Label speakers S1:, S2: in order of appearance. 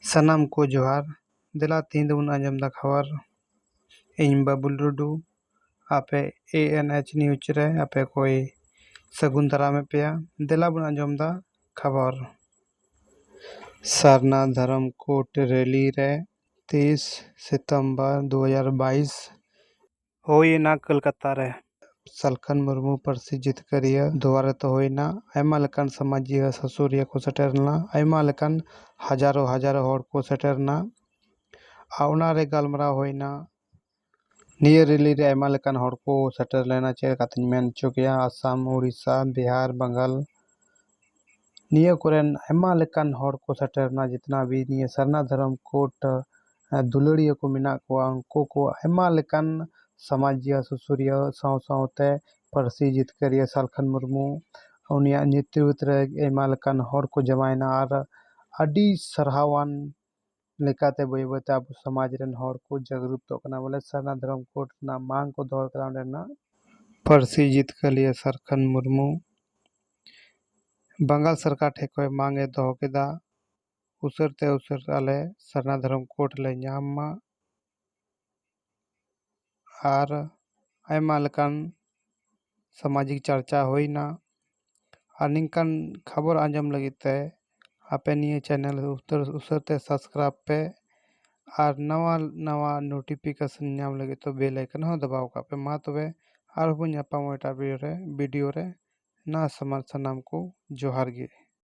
S1: ᱥᱟᱱᱟᱢ ᱠᱚ ᱡᱚᱦᱟᱨ ᱫᱮᱞᱟ ᱛᱮᱦᱮᱧ ᱫᱚᱵᱚᱱ ᱟᱸᱡᱚᱢ ᱮᱫᱟ ᱠᱷᱚᱵᱚᱨ ᱤᱧ ᱵᱟᱹᱵᱩᱞ ᱴᱩᱰᱩ ᱟᱯᱮ ᱮ ᱮᱱ ᱮᱭᱤᱪ ᱱᱤᱭᱩᱡᱽ ᱨᱮ ᱟᱯᱮ ᱠᱚᱭ ᱥᱟᱹᱜᱩᱱ ᱫᱟᱨᱟᱢ ᱮᱫ ᱯᱮᱭᱟ ᱫᱮᱞᱟ ᱵᱚᱱ ᱟᱸᱡᱚᱢ ᱮᱫᱟ ᱠᱷᱚᱵᱚᱨ ᱥᱟᱨᱱᱟ ᱫᱷᱚᱨᱚᱢ ᱠᱳᱰ ᱨᱮᱞᱤ ᱨᱮ ᱛᱤᱥ ᱥᱤᱛᱚᱢᱵᱚᱨ ᱫᱩ ᱦᱟᱡᱟᱨ ᱵᱟᱭᱤᱥ ᱦᱩᱭ ᱮᱱᱟ ᱠᱚᱞᱠᱟᱛᱟ ᱨᱮ᱾ ᱥᱟᱞᱠᱷᱟᱱ ᱢᱩᱨᱢᱩ ᱯᱟᱹᱨᱥᱤ ᱡᱤᱛᱠᱟᱹᱨᱤᱭᱟᱹ ᱫᱩᱣᱟᱨᱮ ᱛᱚ ᱦᱩᱭ ᱮᱱᱟ᱾ ᱟᱭᱢᱟ ᱞᱮᱠᱟᱱ ᱥᱟᱢᱟᱡᱤᱭᱟᱹ ᱥᱩᱥᱟᱹᱨᱤᱭᱟᱹ ᱠᱚ ᱥᱮᱴᱮᱨ ᱞᱮᱱᱟ᱾ ᱟᱭᱢᱟ ᱞᱮᱠᱟᱱ ᱦᱟᱡᱟᱨᱚ ᱦᱟᱡᱟᱨᱚ ᱦᱚᱲ ᱠᱚ ᱥᱮᱴᱮᱨ ᱮᱱᱟ ᱟᱨ ᱚᱱᱟ ᱨᱮ ᱜᱟᱞᱢᱟᱨᱟᱣ ᱦᱩᱭ ᱮᱱᱟ᱾ ᱱᱤᱭᱟᱹ ᱨᱮᱞᱤ ᱨᱮ ᱟᱭᱢᱟ ᱞᱮᱠᱟᱱ ᱦᱚᱲ ᱠᱚ ᱥᱮᱴᱮᱨ ᱞᱮᱱᱟ ᱪᱮᱫ ᱞᱮᱠᱟᱛᱤᱧ ᱢᱮᱱ ᱚᱪᱚ ᱠᱮᱭᱟ ᱟᱥᱟᱢ, ᱳᱰᱤᱥᱟ, ᱵᱤᱦᱟᱨ, ᱵᱟᱝᱜᱟᱞ ᱱᱤᱭᱟᱹ ᱠᱚᱨᱮᱱ ᱟᱭᱢᱟ ᱞᱮᱠᱟᱱ ᱦᱚᱲ ᱠᱚ ᱥᱮᱴᱮᱨ ᱮᱱᱟ ᱡᱮᱛᱱᱟ ᱵᱷᱤ ᱱᱤᱭᱟᱹ ᱥᱟᱨᱱᱟ ᱫᱷᱚᱨᱚᱢ ᱠᱳᱰ ᱫᱩᱞᱟᱹᱲᱤᱭᱟᱹ ᱠᱚ ᱢᱮᱱᱟᱜ ᱠᱚᱣᱟ ᱩᱱᱠᱩ ᱠᱚ ᱟᱭᱢᱟ ᱞᱮᱠᱟᱱ ᱥᱟᱢᱟᱡᱤᱭᱟᱹ ᱥᱩᱥᱟᱹᱨᱤᱭᱟᱹ ᱥᱟᱶ ᱥᱟᱶᱛᱮ ᱯᱟᱹᱨᱥᱤ ᱡᱤᱛᱠᱟᱹᱨᱤᱭᱟᱹ ᱥᱟᱞᱠᱷᱟᱱ ᱢᱩᱨᱢᱩ ᱩᱱᱤᱭᱟᱜ ᱱᱮᱛᱨᱤᱛ ᱨᱮ ᱟᱭᱢᱟ ᱞᱮᱠᱟᱱ ᱦᱚᱲ ᱠᱚ ᱡᱟᱣᱟᱭᱮᱱᱟ ᱟᱨ ᱟᱹᱰᱤ ᱥᱟᱨᱦᱟᱣᱟᱱ ᱞᱮᱠᱟᱛᱮ ᱵᱟᱹᱭ ᱵᱟᱹᱭ ᱛᱮ ᱟᱵᱚ ᱥᱚᱢᱟᱡᱽ ᱨᱮᱱ ᱦᱚᱲ ᱠᱚ ᱡᱟᱜᱽᱨᱩᱛᱚᱜ ᱠᱟᱱᱟ ᱵᱚᱞᱮ ᱥᱟᱨᱱᱟ ᱫᱷᱚᱨᱚᱢ ᱠᱳᱰ ᱨᱮᱱᱟᱜ ᱢᱟᱝ ᱠᱚ ᱫᱚᱦᱚ ᱟᱠᱟᱫᱟ ᱚᱸᱰᱮᱱᱟᱜ ᱯᱟᱹᱨᱥᱤ ᱡᱤᱛᱠᱟᱹᱨᱤᱭᱟᱹ ᱥᱟᱨᱠᱷᱟᱱ ᱢᱩᱨᱢᱩ ᱵᱟᱝᱜᱟᱞ ᱥᱚᱨᱠᱟᱨ ᱴᱷᱮᱱ ᱠᱷᱚᱱ ᱢᱟᱝ ᱮ ᱫᱚᱦᱚ ᱠᱮᱫᱟ ᱩᱥᱟᱹᱨᱟ ᱛᱮ ᱩᱥᱟᱹᱨᱟ ᱟᱞᱮ ᱥᱟᱨᱱᱟ ᱫᱷᱚᱨᱚᱢ ᱠᱳᱰ ᱞᱮ ᱧᱟᱢ ᱢᱟ ᱟᱨ ᱟᱭᱢᱟ ᱞᱮᱠᱟᱱ ᱥᱟᱢᱟᱡᱤᱠ ᱪᱟᱨᱪᱟ ᱦᱩᱭᱱᱟ ᱟᱨ ᱱᱤᱝᱠᱟᱱ ᱠᱷᱚᱵᱚᱨ ᱟᱸᱡᱚᱢ ᱞᱟᱹᱜᱤᱫ ᱛᱮ ᱟᱯᱮ ᱱᱤᱭᱟᱹ ᱪᱮᱱᱮᱞ ᱩᱥᱟᱹᱨᱟ ᱛᱮ ᱥᱟᱵᱥᱠᱨᱟᱭᱤᱵᱽ ᱯᱮ ᱟᱨ ᱱᱟᱣᱟ ᱱᱟᱣᱟ ᱱᱳᱴᱤᱯᱷᱤᱠᱮᱥᱚᱱ ᱧᱟᱢ ᱞᱟᱹᱜᱤᱫ ᱛᱮ ᱵᱮᱞ ᱟᱭᱠᱚᱱ ᱦᱚᱸ ᱫᱟᱵᱟᱣ ᱠᱟᱜ ᱯᱮ ᱢᱟ ᱛᱚᱵᱮ ᱟᱨᱦᱚᱸ ᱵᱚᱱ ᱧᱟᱯᱟᱢᱟ ᱮᱴᱟᱜ ᱵᱷᱤᱰᱤᱭᱳ ᱨᱮ ᱵᱷᱤᱰᱤᱭᱳ ᱨᱮ ᱱᱟ ᱥᱟᱢᱟᱱ ᱥᱟᱱᱟᱢ ᱠᱚ ᱡᱚᱦᱟᱨ ᱜᱮ